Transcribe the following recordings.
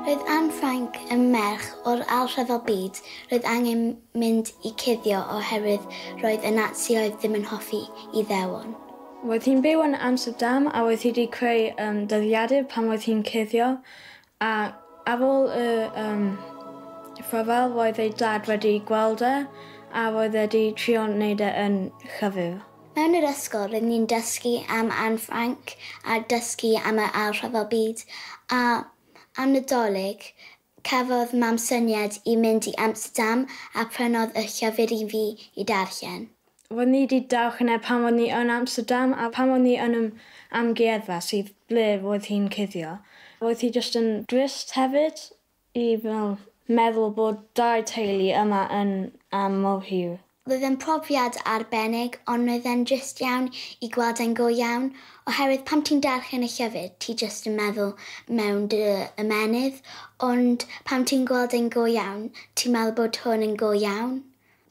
Roedd Anne Frank yn merch o'r Ail Rhyfel Byd, roedd angen mynd i cuddio oherwydd roedd y Natsioedd ddim yn hoffi Iddewon. Roedd hi'n byw yn Amsterdam a roedd hi wedi creu dyddiadur pan roedd hi'n cuddio A ar ôl y yym rhyfel roedd ei dad wedi gweld e a roedd e 'di trio neud e yn llyfyr. Mewn yr ysgol rydyn ni'n dysgu am Anne Frank a dysgu am yr Ail Rhyfel Byd a am Nadolig cafodd mam syniad i mynd i Amsterdam a prynodd y llyfr i fi i darllen. Ro'n i 'di darllen e pan ro'n i yn Amsterdam a pan ro'n i yn yr amgueddfa sydd ble roedd hi'n cuddio, roedd hi jyst yn drist hefyd i fel meddwl bod dau teulu yma yn am mor hir. Roedd e'n profiad arbennig ond roedd e'n drist iawn i gweld e'n go iawn oherwydd pan ti'n darllen y llyfr ti jyst yn meddwl mewn dy ymennydd ond pan ti'n gweld e'n go iawn ti'n meddwl bod hwn yn go iawn.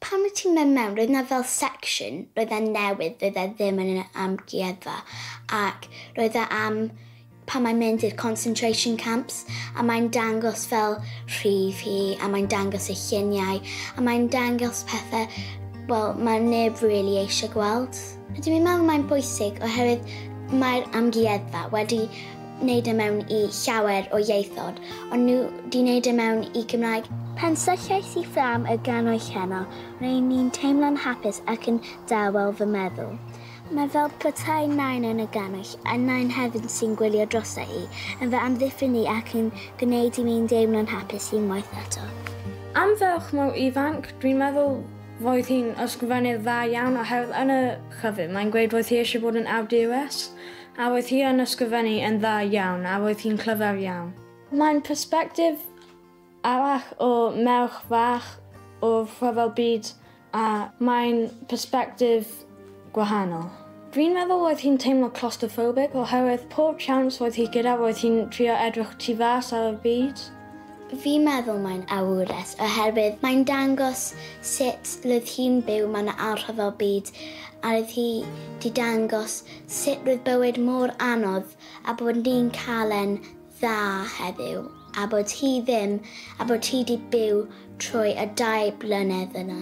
Pan wyt ti'n mynd mewn, roedd 'na fel section, roedd e'n newydd, doedd e ddim yn yr amgueddfa, ac roedd e am pan mae'n mynd i'r concentration camps, a mae'n dangos fel rhif hi, a mae'n dangos ei lluniau, a mae'n dangos pethau, wel, mae neb really eisiau gweld. Rydw i'n meddwl mae'n bwysig oherwydd mae'r Amgueddfa wedi wneud e mewn i llawer o ieithod, ond nhw 'di wneud e mewn i Gymraeg. Pan sylliais i fflam y gannoedd heno, ro'n i'n teimlo'n hapus ac yn dawel fy meddwl. Mae fel petai Nain yn y gannoedd, a Nain hefyd sy'n gwylio drosta i, yn fy amddiffyn i ac yn gwneud i mi'n deimlo'n hapus unwaith eto. Am ferch mor ifanc, dwi'n meddwl Roedd hi'n ysgrifennydd dda iawn oherwydd yn y llyfr mae'n gweud roedd hi eisiau bod yn awdures a roedd hi yn ysgrifennu yn dda iawn a roedd hi'n clyfar iawn. Mae'n persbectif arall o merch fach o'r rhyfel byd a mae'n persbectif gwahanol. Dwi'n meddwl oedd hi'n teimlo claustrophobic oherwydd pob siawns oedd hi gyda roedd hi'n trio edrych tu fas ar y byd. Fi'n meddwl mae'n awures oherwydd mae'n dangos sut roedd hi'n byw mewn anrhyfel byd a roedd hi 'di dangos sut roedd bywyd mor anodd a bod ni'n cael e'n dda heddiw a bod hi ddim a bod hi di byw trwy y dau blynedd yna.